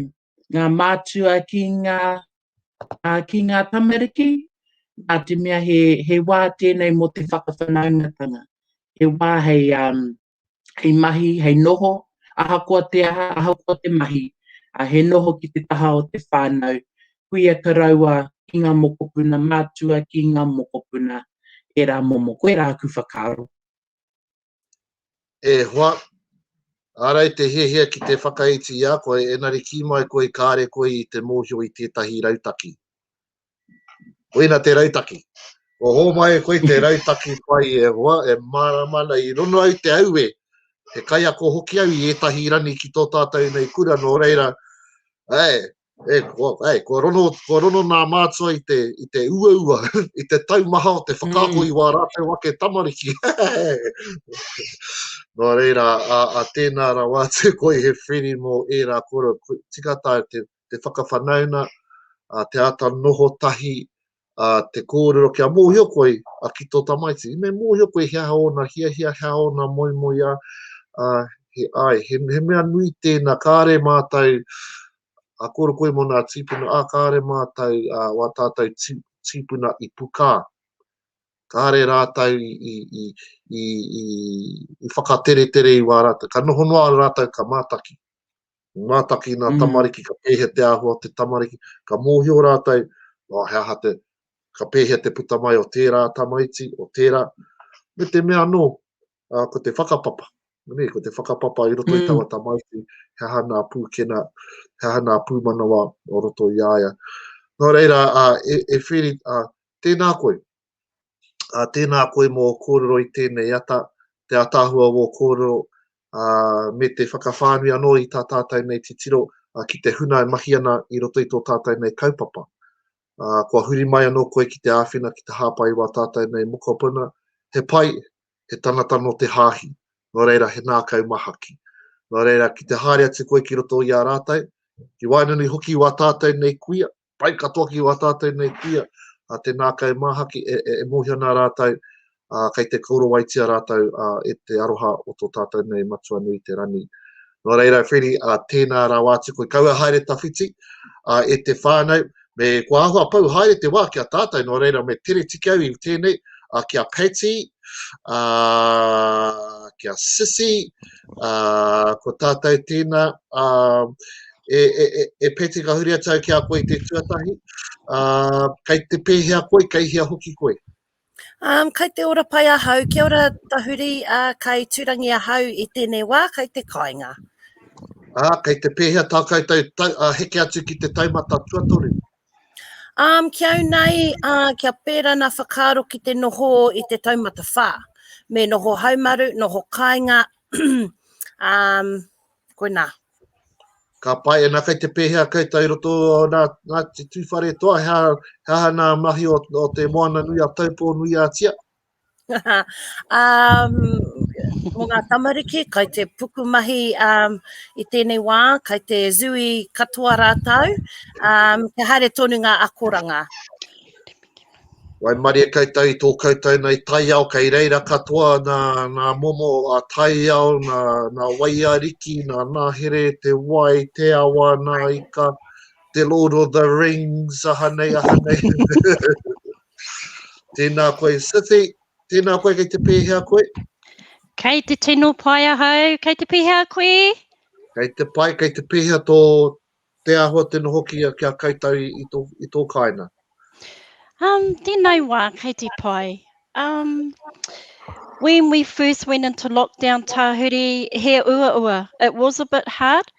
[SPEAKER 1] ngā mātua ki ngā, uh, ki ngā tamariki, nā te mea he, he wā tēnei mō te whakawhanaungatanga, he wā hei, um, hei mahi, hei noho, ahakoa te aha, ahakoa te mahi, ā, he noho ki te taha o te whānau, kuia karaua, ki ngā mokopuna matua, ki ngā mokopuna e rā momo. Koe rā aku whakaaro. E hoa, ārai te hiahia ki te whakaiti i a koe, engari kī mai koe kāre koe i te mōhio i tētahi rautaki. Koina te rautaki. Kua hōmai e koe te rautaki pai e hoa, e mārama ana i rono au te aue, he kaiako hoki au i ētahi rani ki tō tātou nei kura, nō reira, āe, e, kua, āe, kua rono, kua rono nā mātua i te, i te uaua, i te taumaha o te whakaako i wā rātou ake tamariki. nō reira, a, a tēnā rawa atu koe he whiri mō ērā kura, tika tā te, te whakawhanaunga, te āta noho tahi, te kōrero kia mōhio koe ki tō tamaiti. Me mōhio koe he aha ōna hiahia, he aha ōna moemoeā, he āe, he mea nui tēnā, kāre mātou, a kōrero koe mō nā tīpuna, ā, kāre mātou, wā tātou tīpuna i pukā, kāre rātou i whakateretere i wā rātou, ka noho noa rātou ka mātaki. Ko ngā taki i ngā tamariki, ka pēhea te āhua o te tamariki, ka mōhio rātou, oh, he aha te, ka pēhea te puta mai o tērā tamaiti, o tērā, me te mea anō, uh, ko te whakapapa, ne, ko te whakapapa i roto mm. i tawa tamaiti, he aha nā pūkena, he aha nā pūmanawa o roto i aia. Nō reira, uh, e, e whiri, uh, tēnā koe, Uh, tēnā koe mō kōrero i tēnei ata, te ataahua wō kōrero, uh, me te whakawhānui anō i tā tātai nei titiro uh, ki te huna e mahi ana i roto i tō tātai nei kaupapa. Uh, kua huri mai anō koe ki te āwhina ki te hāpai wā tātai nei mokopuna, he pai, he tangata no te hāhi, no reira he nākau mahaki. No reira, ki te haere atu koe ki roto i a rātai, ki waenanui hoki wā tātai nei kuia, pai katoa ki wā tātou nei kuia, a te nākai māhaki e, e, e mōhio nā rātou, a, kei te kourawaitia rātou a, e te aroha o tō tātou nei matua nui te rani. Nō reira, Freddie, a, tēnā rāwā atu koe, kaua haere tawhiti a, e te whānau, me kua ahua pau haere te wā ki a tātou, nō reira, me tere tiki au i tēnei, a, ki a Patty, a, ki a Sissy, ko tātou tēnā, e, e, e, e pēti ka huri atu ki a koe i te tuatahi, uh, kei te pēhea koe, kei hea hoki koe? Um, kei te ora pai ahau, kia ora tahuri, uh, kei turangi ahau i tēnei wā, kei te kāinga. Ah, kei te pēhea tā koutou tau, uh, heke atu ki te taumata tuatoru? Um, ki au nei, uh, kia pēra nā whakaaro ki te noho i te taumata whā. Me noho haumaru, noho kāinga, um, koe nā. Ka pai ana kai te pēhea kai tai roto nā, nā te tūwhare toa, hea, hea nā mahi o, o te moana nui a taupō nui a tia? um, mo ngā tamariki, kai te pukumahi um, i tēnei wā, kai te zui katoa rātau, um, kia haere tonu ngā akoranga. Wai maria koutou i tō koutou nei taiao, kei reira katoa nā, nā momo a taiao, nā, nā waiariki, nā nāhere, te wai, te awa, nā ika, te Lord of the Rings, aha nei, aha nei. Tēnā koe Sithy, tēnā koe kei te pēhea koe? Kei te tino pai ahau, kei te pēhea koe? Kei te pai, kei te pēhea tō te ahua te noho ki a, ki a kaitau i, i, tō, i tō kāina? Um, tēnei wā, kei te pai. Um, when we first went into lockdown, Tahuri, he ua ua. It was a bit hard.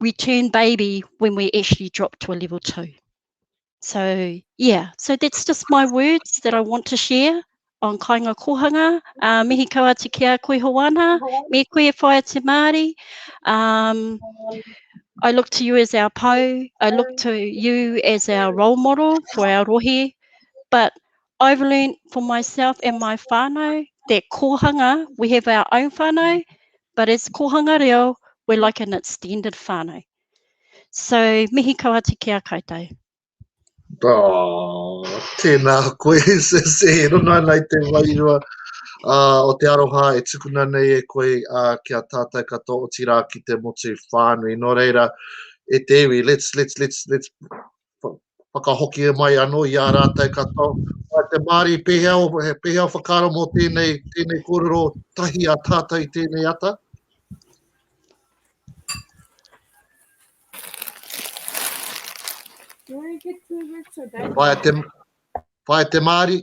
[SPEAKER 1] we turn baby when we actually drop to a level two. So yeah, so that's just my words that I want to share on Kainga Kohanga. Uh, mihi kau atu ki a koe Hoana, me koe e whaia te Māori. Um, I look to you as our po, I look to you as our role model for our rohe, but I've learned for myself and my whānau that kōhanga, we have our own whānau, but as kōhanga reo, we're like an extended whānau. So, mihi kau atu ki a koutou. Oh, tēnā koe, se, se he runga nei te wairua uh, o te aroha e tukuna nei e koe uh, ki a tātai katoa, otirā ki te motu whānui. Nō reira, e te iwi, let's, let's, let's, let's whakahoki e mai anō i ā rātou katoa. Ā te Māori, pēhea, pēhea o whakaaro mō tēnei, tēnei kōrero tahi a tātou i tēnei ata? Whaia te, whaia te Māori.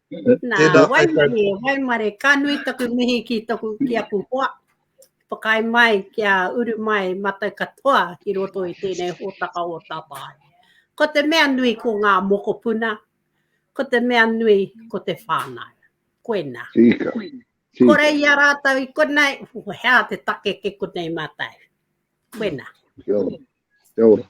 [SPEAKER 1] Nā, waimarie, waimare, ka nui taku mihi ki taku ki aku hoa. Pakai mai ki a uru mai matai katoa ki roto i tēnei hōtaka o Tātāi. Ko te mea nui ko ngā mokopuna, ko te mea nui ko te whānau. Koena. Tika. Tika. Kore i a rātou i konei, hea te take ke konei mātai. Koena. Kia ora. Kia ora.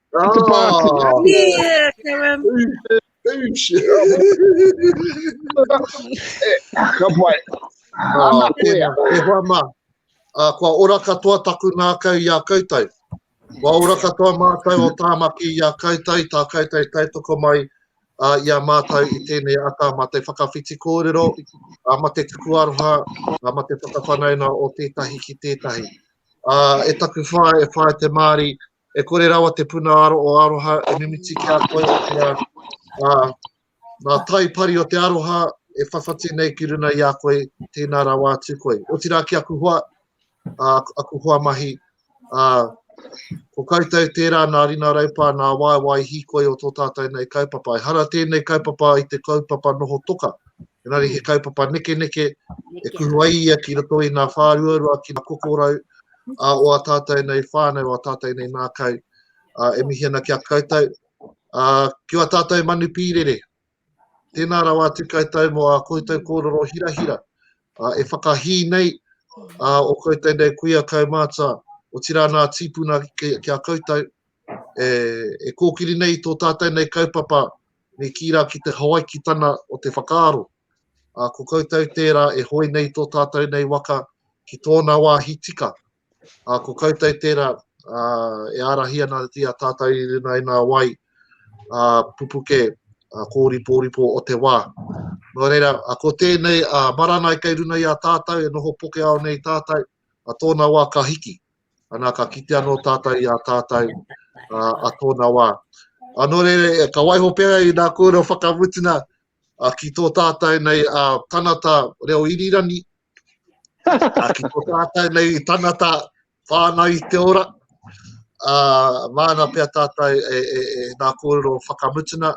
[SPEAKER 1] Oh, Te Pākehā. Yeah, Karen. Ka pai. Ana koea. E hoa mā. Uh, kua ora katoa taku nākau i a koutou. Kua ora katoa mātou o Tāmaki i a koutou, i tā koutou tautoko mai uh, i a mātou i tēnei ata ma te whakawhiti kōrero, uh, ma te tuku aroha, uh, ma te whakawhanauna o tētahi ki tētahi. Uh, e taku whae, e whae te Māori, E kore rawa te puna aro o aroha e mimiti ki a koe, otirā, ā, ngā tai pari o te aroha e whawhati nei ki runa i a koe, tēnā rawa atu koe. Otirā ki aku hoa, ā, aku hoa mahi, ā, ko koutou tērā nā rina raupā, nā waewae hīkoi o tō tātou nei kaupapa. Ehara tēnei kaupapa i te kaupapa noho toka, engari he kaupapa nekeneke e kuhu ai ia ki roto i ngā whāruarua, ki ngā kokorau, ā, o ā tātou nei whānau, o ā tātou nei ngākau, ā, e mihi ana ki a koutou, ā, ki ā tātou manu pīrere. Tēnā rawa atu koutou mō ā koutou kōrero hirahira, ā, e whakahī nei, ā, o koutou nei kuia kaumātua, otirā nā tīpuna ki, ki a koutou, e, e kōkiri nei i tō tātou nei kaupapa me kī rā ki te Hawaikitana o te whakaaro. Ā, ko koutou tērā e hoe nei tō tātou nei waka ki tōna wāhi tika. Ā, ko koutou tērā, ā, e ārahi ana i a tātou i runga i ngā wai, ā, pupuke, ā, kōripōripo o te wā. Nō reira, ā, ko tēnei, ā, marangai kei runga i a tātou, e noho poke ao nei tātou, a tōna wā ka hiki, ana ka kite anō tātou i a tātou a tōna wā. Anō re, ka waiho pērā i nā kōrero whakamutunga ki tō tātou nei a tanata reo irirani, a ki tō tātou nei tanata whānau i te ora, a māna pia tātou e, e, e nā kōrero whakamutunga,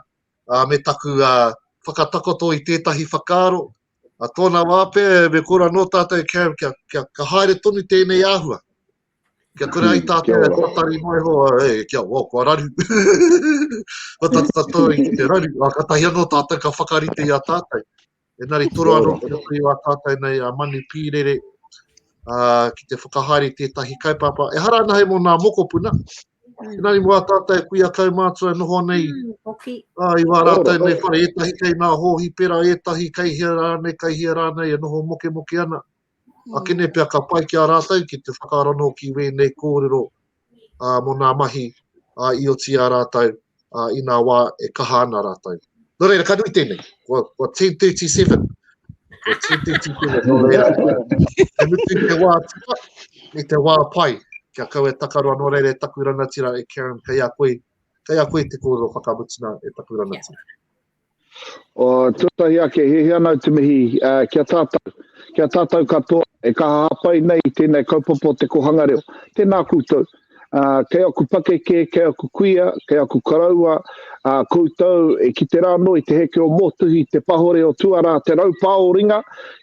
[SPEAKER 1] a, me taku a, whakatakoto i tētahi whakaaro, a tōna wā pea me kura nō tātou kia, kia, kia, kia haere tonu tēnei āhua. Kia kura ai hmm, tātou e kōtari mai hoa, e, kia wā, kua raru. Ko tātou tātou i te raru, a ka tahi anō tātou ka whakarite i a tātou. E nari toro anō ki roto i a tātou nei a manu pīrere, a, ki te whakahaere tētahi kaupapa. E hara ana hei mō nā mokopuna, Tēnā i mua tātou e kuia kau mātua e noho nei. Hoki. Ā, i wā rātou nei whare, ētahi kei nā hōhipera, ētahi kei hea rānei, kei hea rānei e noho mokemoke ana. A kene pea ka pai ki a rātou ki te whakaaro anō ki wēnei kōrero ā, mō nā mahi ā, i oti i a rātou. uh, i nā wā e kaha ana rātou. Nō reira, ka nui tēnei. Kua, kua 10.37. Kua 10.37. Nō reira, e mutu i te wā tua, i te wā pai. Kia kau e takaroa, nō reira, e taku ranatira, e Karen, kei a koe, kei a koe te kōrero whakamutuna e taku ranatira. Oh, tuatahi ake, he hea nau te mihi uh, kia tātou, kia tātou katoa e kaha hapai nei i tēnei kaupapa o te kohanga reo. Tēnā koutou, uh, kei aku pakeke, kei aku kuia, kei aku karaua, uh, koutou e ki te rāno i te heke o mōtuhi, te pahore o tuarā, te raupā o ringa,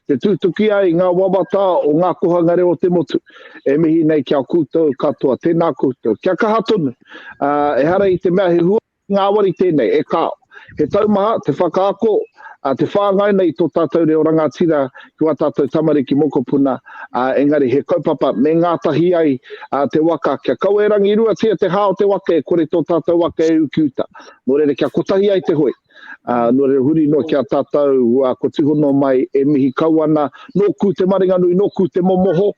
[SPEAKER 1] te tūtuki ai ngā wawata o ngā kohanga reo o te motu. E mihi nei kia koutou katoa, tēnā koutou. Kia kaha tonu, uh, e hara i te mea he hua Ngāwari tēnei, e kāo. He taumaha, te whakaako, te whāngai nei i tō tātou reo rangatira ki ā tātou tamariki mokopuna, engari he kaupapa me ngātahi ai te waka kia kaua e rangiruatia te hā o te waka e kore tō tātou waka e ukiuta. Nō reira kia kotahi ai te hoi. Nō reira huri noa ki a tātou ko Tihono mai e mihi kau ana, nōku te maringanui, nōku te momoho,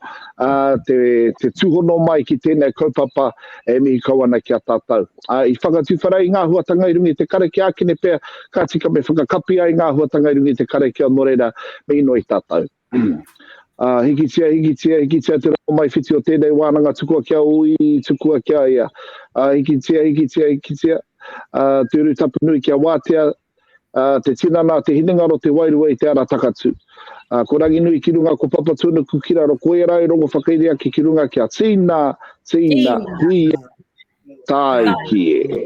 [SPEAKER 1] te tūhono mai ki tēnei kaupapa, e mihi kau ana ki a tātou. Ā, i whakatiwhara ai ngā huatanga i runga i te karakia ākene pea, ka tika me whakakapi ai ngā huatanga i runga i te karakia nō reira me inoi tātou. Ā, hikitia, hikitia, hikitia te rongomaiwhiti o tēnei wānanga tukua kia ui, tukua kia ia. Ā, hikitia, hikitia, hikitia, ā, te urutapu nui kia wātea, Te tinana a te hinengaro te wairua i te ara takatū. Ko Ranginui ki runga ko Papatūnuku ki raro ko ērā e rongo whakairi ake ki runga kia tīna, tīna, hui e, tāiki e.